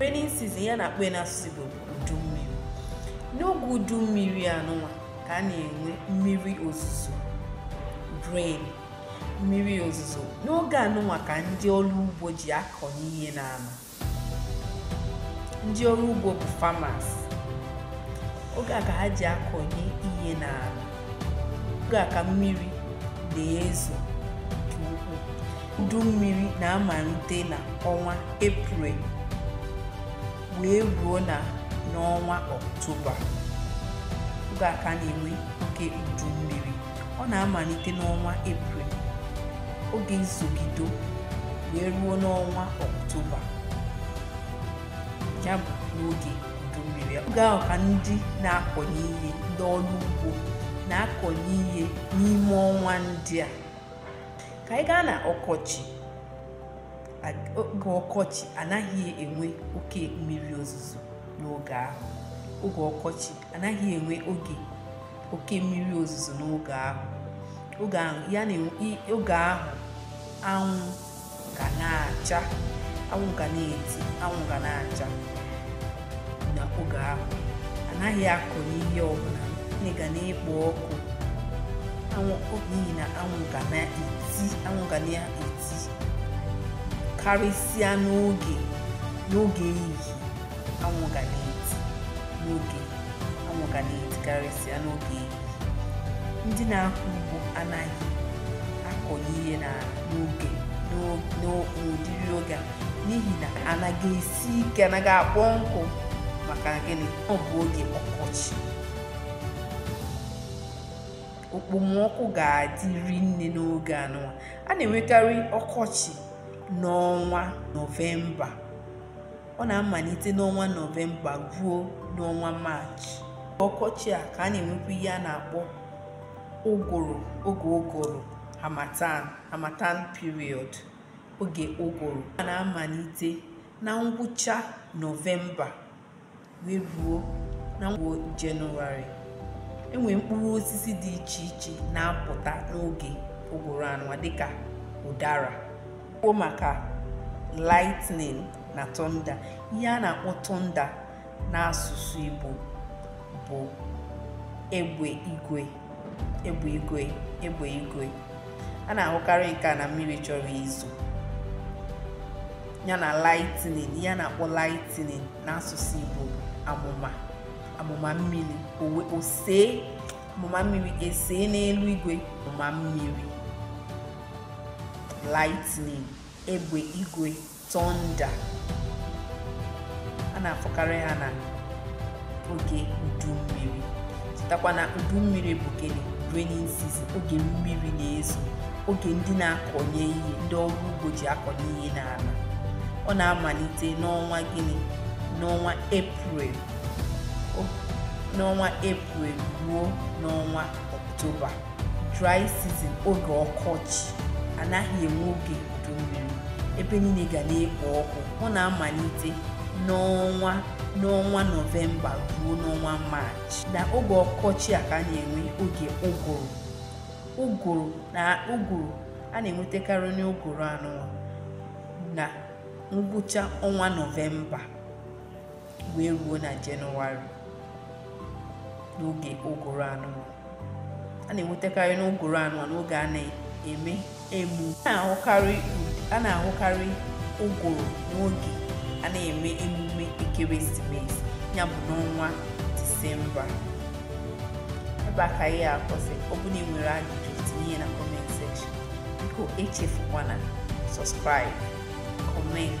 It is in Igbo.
rainy season ihe a na-akpọ ya n'asụsụ Igbo bụ udu mmiri n'oge udu mmiri anụnwa ka a na-enwe mmiri ozuzo rain mmiri ozuzo n'oge anụnwa ka ndị ọrụ ugbo ji akọnye ihe n'ala ndị ọrụ ugbo bụ farmers oge a ka ha ji akọnye ihe n'ala oge a ka mmiri na-ezo nke ukwuu udu mmiri na-amalite na ọnwa eprel wee ruo na n'ọnwa ọktoba oge a ka a na-enwe oge udu mmiri ọ na-amalite n'ọnwa eprel ọ ga na-ezogide wee ruo n'ọnwa ọktoba ya bụ n'oge oge ahụ ka ndị na-akọnye ihe ndị ọrụ ugbo na-akọnye ihe n'ime ọnwa ndị a ka anyị gaa na ọkọchị oge ọkọchị anaghị enwe oke mmiri ozuzo n'oge ahụ oge ọkọchị anaghị enwe oge oke mmiri ozuzo n'oge ahụ oge ahụ anwụ ga na-acha anwụ ga na-eti anwụ ga na-acha na oge ahụ anaghị akụnye ihe ọbụla nne ga na-ekpo ọkụ anwụ n'ihi na anwụ ga na-eti anwụ ga na-eti karịsịa n'oge n'oge ehihie anwụ ga na-eti n'oge anwụ ga na-eti karịsịa n'oge ehihie ndị na-akọ ugbo anaghị akọnye ihe n'ala n'oge n'o- n'o- n'ụdịrị oge a n'ihi na ala ga-esi ike ala ga-akpọ nkụ maka gịnị ọ bụ oge ọkọchị okpomọkụ ga-adị rinne n'oge anụwa a na-enwekarị ọkọchị n'ọnwa nọvemba ọ na-amalite n'ọnwa nọvemba ruo n'ọnwa maachị ọkọchị a ka a na-enwekwa ihe a na-akpọ ụgụrụ oge ụgụrụ harmattan harmattan period oge ụgụrụ a na-amalite na ngwụcha nọvemba wee ruo n'ọnwa jenụwarị e nwere mkpụrụ osisi dị iche iche na-apụta n'oge ụgụrụ anụwa dịka ụdara kwuo maka lightning na thunder ihe a na-akpọ thunder n'asụsụ Igbo bụ egbe igwe egbe igwe egbe igwe a na-ahụkarị nke a na mmiri chọrọ izo ya na lightning ihe a na-akpọ lightning n'asụsụ Igbo amụma amụma mmiri owe osee amụma mmiri esee n'elu igwe amụma mmiri lightning egbe igwe thunder a na-afụkarị ha na oge udu mmiri chetakwa na udu mmiri bụ gịnị raining season oge mmiri na-ezo oge ndị na-akọnye ihe ndị ọrụ ugbo ji akọnye ihe n'ala ọ na-amalite n'ọnwa gịnị n'ọnwa eprel n'ọnwa eprel ruo n'ọnwa ọktoba dry season oge ọkọchị anaghị enwe oge udu mmiri ebe niile ga na-ekpo ọkụ ọ na-amalite n'ọnwa n'ọnwa nọvemba ruo n'ọnwa maachị na oge ọkọchị a ka a na-enwe oge ụgụrụ ụgụrụ na ụgụrụ a na-enwetakarị n'ụgụrụ anụwa na ngwụcha ọnwa nọvemba wee ruo na jenụwarị n'oge ụgụrụ anụwa a na-enwetakarị n'ụgụrụ anụwa n'oge a na-eme emu a na-ahụkarị ụgụrụ n'oge a na-eme emume ekeresimesi ya bụ n'ọnwa disemba ebe a ka ihe a kwụsị ọ bụrụ na ị nwere ajụjụ tinye na comment section biko echefukwana subscribe comment